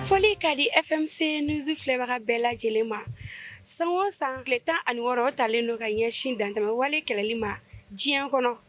Foli ka di FMC news filɛbaga bɛɛ lajɛlen ma san o san tile tan ani wɔɔrɔ o talen don ka ɲɛsin dantɛmɛ wale kɛlɛli ma diɲɛ kɔnɔ.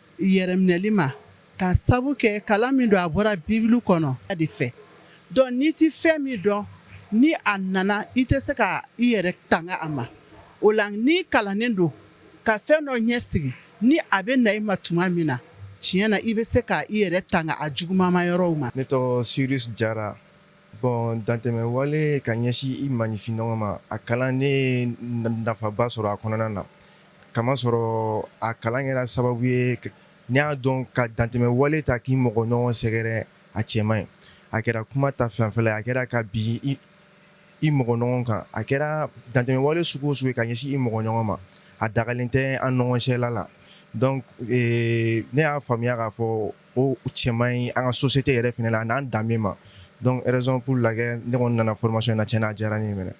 yɛrɛminɛli ma k'a sabu kɛ kalan min don a bɔra Bible kɔnɔ a de fɛ donc n'i tɛ fɛn min dɔn ni a nana i tɛ se ka i yɛrɛ tanga a ma o la n'i kalannen don ka fɛn dɔ ɲɛsigi ni a bɛ na i ma tuma min na tiɲɛ na i bɛ se ka i yɛrɛ tanga a juguman ma yɔrɔw ma. Ne tɔgɔ Cyrus Jara bon dantɛmɛwale ka ɲɛsin i maninfinɲɔgɔn ma a kalan ne ye nafaba sɔrɔ a kɔnɔna na K'a masɔrɔ a kalan kɛra sababu ye n y'a dɔn ka dantɛmɛ wale ta k'i mɔgɔ ɲɔgɔn sɛgɛrɛ a cɛ man ɲi a kɛra kuma ta fan fɛ a kɛra ka bin i mɔgɔ ɲɔgɔn kan a kɛra dantɛmɛ wale sugu o sugu ka ɲɛsin i mɔgɔ ɲɔgɔn ma a dagalen tɛ an ɲɔgɔn cɛla la ne y'a faamuya k'a fɔ o cɛ man ɲi an ka société yɛrɛ fini la n'an danbe bɛɛ ma donc raison la ne nana formation na ti n'a diyara n' minɛ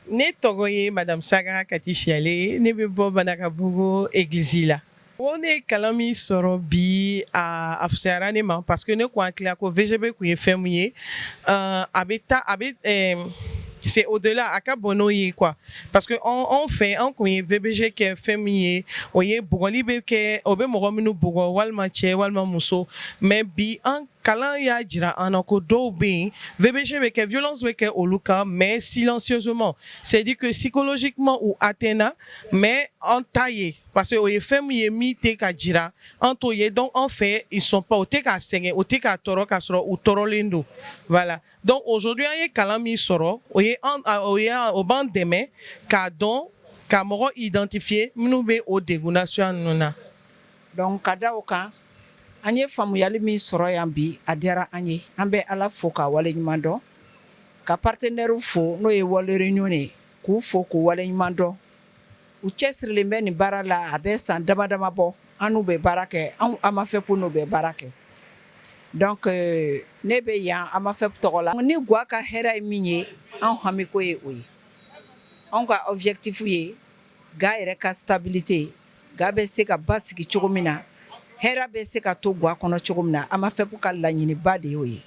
Ne tɔgɔ ye madame Saga di siyalen ne bɛ bɔ Banankabugu église la o ne ye kalan min sɔrɔ bi a a fisayara ne ma parce que ne tun hakili la ko VGB tun ye fɛn min ye a bɛ taa a bɛ se au-delà a ka bon n'o ye parce que anw fɛ anw tun ye VBG kɛ fɛn min ye o ye bugɔli bɛ kɛ o bɛ mɔgɔ minnu bugɔ walima cɛ walima muso mais bi kalan y'a jira an na ko dɔw bɛ yen VBG bɛ kɛ violence bɛ kɛ olu kan mais silencieusement c'est à dire que psychologiquement u atteint mais an t'a ye parce que o ye fɛn min ye min tɛ ka jira an t'o ye donc an fɛ ils sont pas u tɛ ka sɛgɛn u tɛ ka tɔɔrɔ k'a sɔrɔ u tɔɔrɔlen don voilà donc aujourd'hui an ye kalan min sɔrɔ o ye an o ye o b'an dɛmɛ k'a dɔn ka mɔgɔ identifier minnu bɛ o degun nasuguya ninnu na. Donc ka da kan an ye faamuyali min sɔrɔ yan bi a diyara an ye an bɛ ala fo k'a wale ɲuman dɔn ka partenɛriw fo n'o ye World Renew ye k'u fo k'u wale ɲuman dɔn u cɛsirilen bɛ nin baara la a bɛ san dama dama bɔ an n'u bɛ baara kɛ anw AMAFEP n'u bɛ baara kɛ ne bɛ yan AMAFEP tɔgɔ la ni ga ka hɛrɛ ye min ye an hamiko ye o ye an ka objectif ye ga yɛrɛ ka stabilité ga bɛ se ka basigi cogo min na hɛrɛ bɛ se ka to ga kɔnɔ cogo min na amafep ka laɲiniba de y'o ye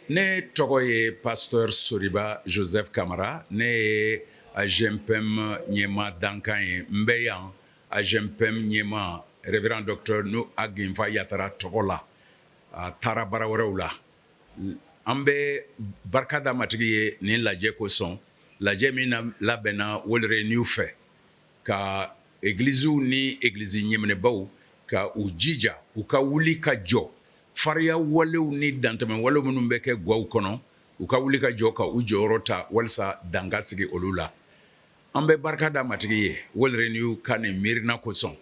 ne tɔgɔ ye pasteur soriba joseph kamara ne ye agempem ɲɛmaa dankan ye n bɛ yan agempem ɲɛmaa révérend docteur nouh ag infa yattara tɔgɔ la a taara baara wɛrɛw la an bɛ barika da matigi ye nin lajɛ kosɔn lajɛ min labɛnna world renew fɛ ka egiliziw ni egilizi ɲɛminɛbaw ka u jija u ka wuli ka jɔ fariya walew ni dantɛmɛ wale minnu bɛ kɛ gaw kɔnɔ u ka wuli ka jɔ ka u jɔyɔrɔ ta walasa dan ka sigi olu la an bɛ barika da matigi ye world renew ka nin miirina kosɔn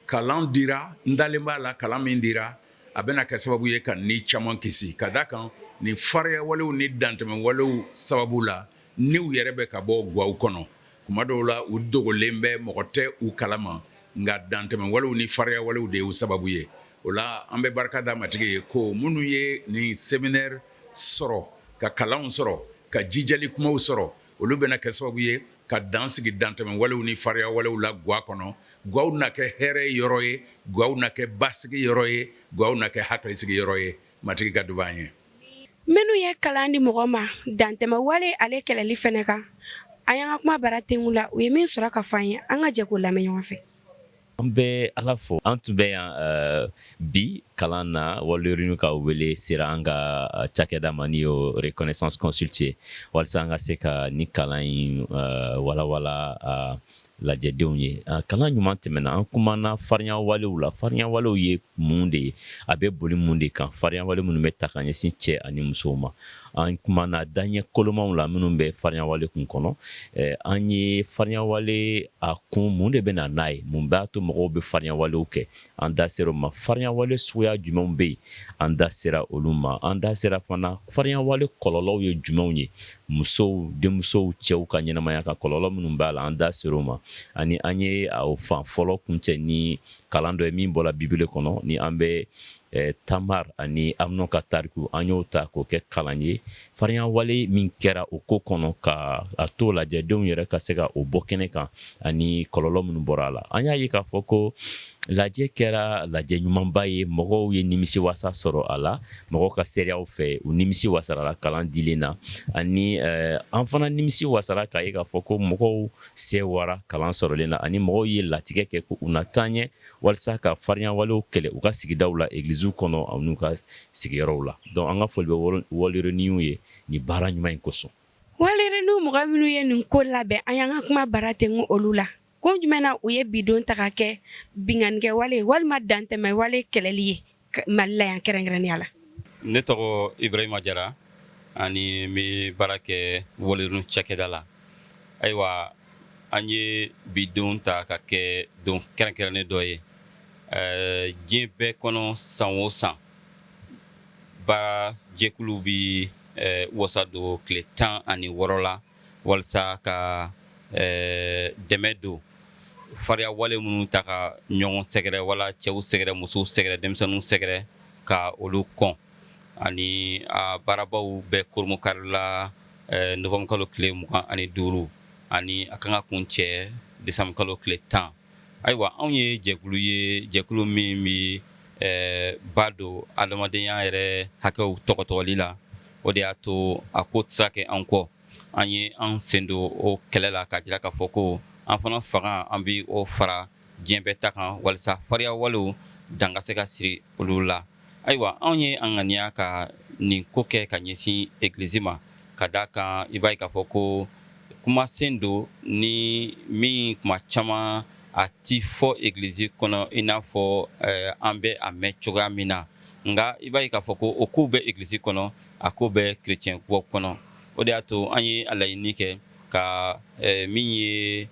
kalan dira n dalen b'a la kalan min dira a bɛna kɛ sababu ye ka ni caman kisi ka da a kan nin fariya walew ni dantɛmɛ walew sababu la niw yɛrɛ bɛ ka bɔ gaw kɔnɔ kuma dɔw la u dogolen bɛ mɔgɔ tɛ u kalama nka dantɛmɛ walew ni fariya walew de y'u sababu ye o la an bɛ barika da matigi ye ko minnu ye nin séminaire sɔrɔ ka kalan sɔrɔ ka jijali kumaw sɔrɔ olu bɛna kɛ sababu ye ka dan sigi dantɛmɛ walew ni fariya walew la ga kɔnɔ gaw na kɛ hɛrɛ yɔrɔ ye gaw na kɛ basigi yɔrɔ ye gaw na kɛ hakilisigi yɔrɔ ye matigi ka duba an ye Minnu ye kalan di mɔgɔ ma dantɛmɛ wale ale kɛlɛli fana kan an y'an ka kumabara dɛn u la u ye min sɔrɔ ka fɔ an ye an ka jɛ k'o lamɛn ɲɔgɔn fɛ an bɛ ala fo an tun bɛ yan bi kalan na world renew ka wele sera an ka cakɛda ma n'o ye renaissance consult ye walasa an ka se ka nin kalan in walawala Lajɛdenw ye kalan ɲuman tɛmɛna an kumana fariyawalew la fariyawalew ye mun de ye a bɛ boli mun de kan fariyawale minnu bɛ ta ka ɲɛsin cɛ ani musow ma an kumana daɲɛ kolomaw la minnu bɛ fariyawale kun kɔnɔ an ye fariyawale a kun mun de bɛ na n'a ye mun b'a to mɔgɔw bɛ fariyawalew kɛ an da sera o ma fariyawale suguya jumɛnw bɛ yen an da sera olu ma an da sera fana fariyawale kɔlɔlɔw ye jumɛnw ye musow denmusow cɛw ka ɲɛnamaya kan kɔlɔlɔ minnu b'a la an da sera o ma ani an ye o fan fɔlɔ kuncɛ ni kalan dɔ ye min bɔra bibele kɔnɔ ni an bɛ tamar ani amunɔn ka tariku an y'o ta k'o kɛ kalan ye Fariyawale min kɛra o ko kɔnɔ ka a to lajɛdenw yɛrɛ ka se ka o bɔ kɛnɛ kan ani kɔlɔlɔ minnu bɔra a la an y'a ye k'a fɔ ko lajɛ kɛra lajɛ ɲumanba ye mɔgɔw ye nimisi wasa sɔrɔ a la mɔgɔw ka seereyaw fɛ u nimisi wasara la kalan dilen na ani an fana nimisi wasara k'a ye k'a fɔ ko mɔgɔw sɛwara kalan sɔrɔlen na ani mɔgɔw ye latigɛ kɛ ko u na taa ɲɛ walasa ka farinya walew kɛlɛ u ka sigida la egilisiw kɔnɔ ani u ka sigiyɔrɔw la dɔnku an ka foli bɛ World Renew ye ni baara ɲuman in kosɔn World Renew mɔgɔ minnu ye nin ko labɛn an y'an ka kuma baara tɛ olu la kun jumɛn na u ye bi don ta ka kɛ binkannikɛ wale walima dantɛmɛwale kɛlɛli ye Mali la yan kɛrɛnkɛrɛnya la ne tɔgɔ ibrahima jara ani n bɛ baara kɛ World Renew cakɛda la ayiwa an ye bi don ta ka kɛ don kɛrɛnkɛrɛnnen dɔ ye diɲɛ bɛɛ kɔnɔ san o san baara jɛkulu bɛ wasa don tile tan ani wɔɔrɔ la walasa ka ɛɛ dɛmɛ don farinya wale minnu taa ka ɲɔgɔn sɛgɛrɛ wala cɛw sɛgɛrɛ musow sɛgɛrɛ denmisɛnninw sɛgɛrɛ ka olu kɔn ani a baarabaw bɛ kurunbonkari la ɛɛ novembre kalo tile mugan ani duuru ani a kan ka kuncɛ décembre kalo tile tan Ayiwa anw ye jɛkulu ye jɛkulu min bɛ ba don adamadenya yɛrɛ hakɛw tɔgɔtɔgɔli la o de y'a to a ko tɛ se ka kɛ an kɔ an ye an sen don o kɛlɛ la k'a jira k'a fɔ ko an fana fanga an bɛ o fara diɲɛ bɛɛ ta kan walasa fariya walew dan ka se ka siri olu la Ayiwa anw ye an ŋaniya ka nin ko kɛ ka ɲɛsin egilisi ma ka da a kan i b'a ye k'a fɔ ko kumasen don ni min tuma caman a tɛ fɔ egilisi kɔnɔ i n'a fɔ an bɛ a mɛn cogoya min na nka i b'a ye k'a fɔ ko o kow bɛ egilisi kɔnɔ a ko bɛ kerecɛnw kɔnɔ o de y'a to an ye a laɲini kɛ ka min ye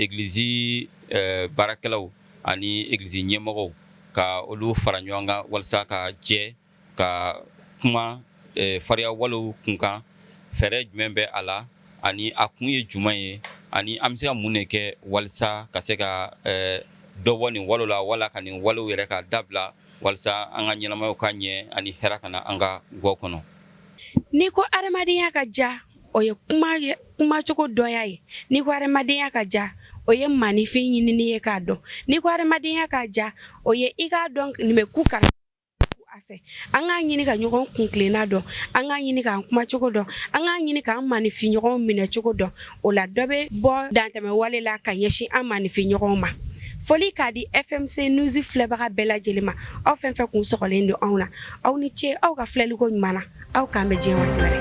egilisi baarakɛlaw ani egilisi ɲɛmɔgɔw ka olu fara ɲɔgɔn kan walasa ka jɛ ka kuma fariya walew kunkan fɛɛrɛ jumɛn bɛ a la ani a kun ye jumɛn ye ani an bɛ se ka mun de kɛ walasa ka se ka dɔ bɔ nin wale la wala ka nin wale yɛrɛ ka dabila walasa an ka ɲɛnamaya ka ɲɛ ani hɛrɛ ka na an ka gaw kɔnɔ n'i ko adamadenya ka diya o ye kumacogo dɔn ye n'i ko hamadenya ka diya o ye maninfin ɲinin ye k'a dɔn n'i ko hamadenya ka diya o ye i k'a dɔn nin bɛ ku ka a fɛ an k'a ɲini ka ɲɔgɔn kuntilenna dɔn an k'a ɲini k'an kumacogo dɔn an k'a ɲini k'an maninfinɲɔgɔn minɛcogo dɔn o la dɔ bɛ bɔ dantɛmɛ wale la ka ɲɛsin an maninfinɲɔgɔn ma foli k'a di e fɛn nsi filɛbaga bɛɛ lajɛlen ma aw fɛn o fɛn kun sinnen don anw na aw ni ce aw ka filɛliko ɲuman na aw k'an bɛn diɲɛ waati wɛrɛ